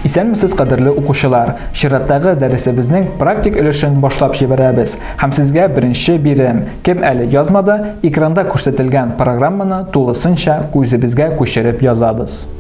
Исәнмесез кадерле укучылар! Чираттагы дәресебезнең практик өлешен башлап җибәрәбез һәм сезгә беренче бирем. Кем әле язмады, экранда күрсәтелгән программаны тулысынча күзебезгә күчереп язабыз.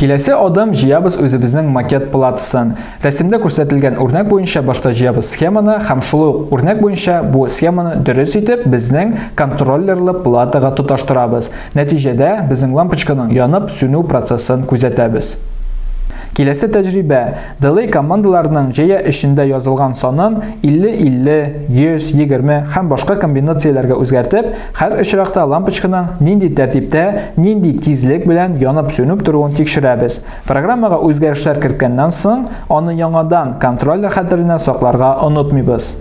Киләсе адым җыябыз үзебезнең макет платысын. Рәсемдә күрсәтелгән үрнәк буенча башта җыябыз схеманы һәм шул ук үрнәк буенча бу схеманы дөрес итеп безнең контроллерлы платага тоташтырабыз. Нәтиҗәдә безнең лампочканың янып сүнү процессын күзәтәбез. Киләсе тәҗрибә, Delay командаларының җәя эчендә язылган санын 50-50, 100, 20 һәм башка комбинацияләргә үзгәртеп, һәр очракта лампочканың нинди тәртиптә, нинди тизлек белән янып-сүнеп торуын тикшерәбез. Программага үзгәрешләр керткәннән соң, аны яңадан контроллер хәтеренә сакларга онытмыйбыз.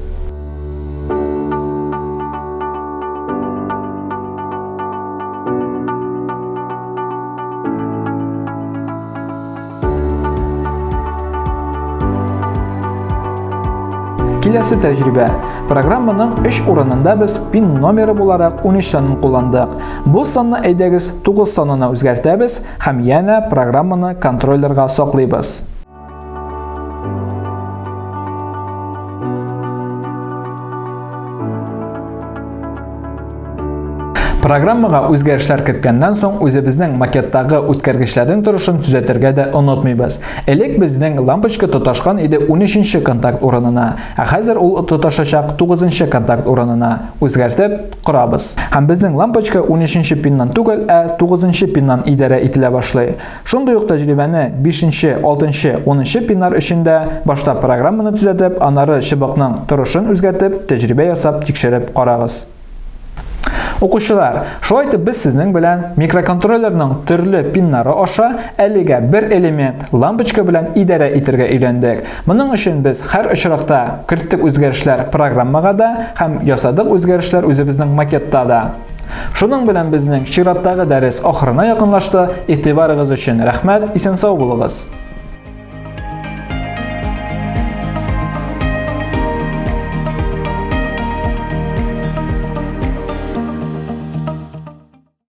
Киләсе тәҗрибә. Программаның 3 урынында без пин номеры буларак 13 санын кулландык. Бу санны әйдәгез 9 санына үзгәртәбез һәм янә программаны контроллерга саклыйбыз. Программага үзгәрешләр керткәннән соң үзебезнең макеттагы үткәргечләрнең торышын төзәтергә дә онытмыйбыз. Элек безнең лампочка тоташкан иде 13-нче контакт урынына, ә хәзер ул тоташачак 9-нчы контакт урынына. Үзгәртеп корабыз. Һәм безнең лампочка 13-нче пиннан түгел, ә 9-нчы пиннан идарә ителә башлый. Шундый ук тәҗрибәне 5-нче, 6-нчы, 10-нчы пинар өчен дә башта программаны төзәтеп, аннары чыбыкның торышын үзгәртеп, тәҗрибә ясап тикшереп карагыз. Укучылар, шулай итеп без сезнең белән микроконтроллерның төрле пиннары аша әлегә бер элемент лампочка белән идарә итергә өйрәндек. Моның өчен без һәр очракта керттек үзгәрешләр программага да һәм ясадык үзгәрешләр үзебезнең макетта да. Шуның белән безнең чираттагы дәрес ахырына якынлашты. Игътибарыгыз өчен рәхмәт, исән сау булыгыз.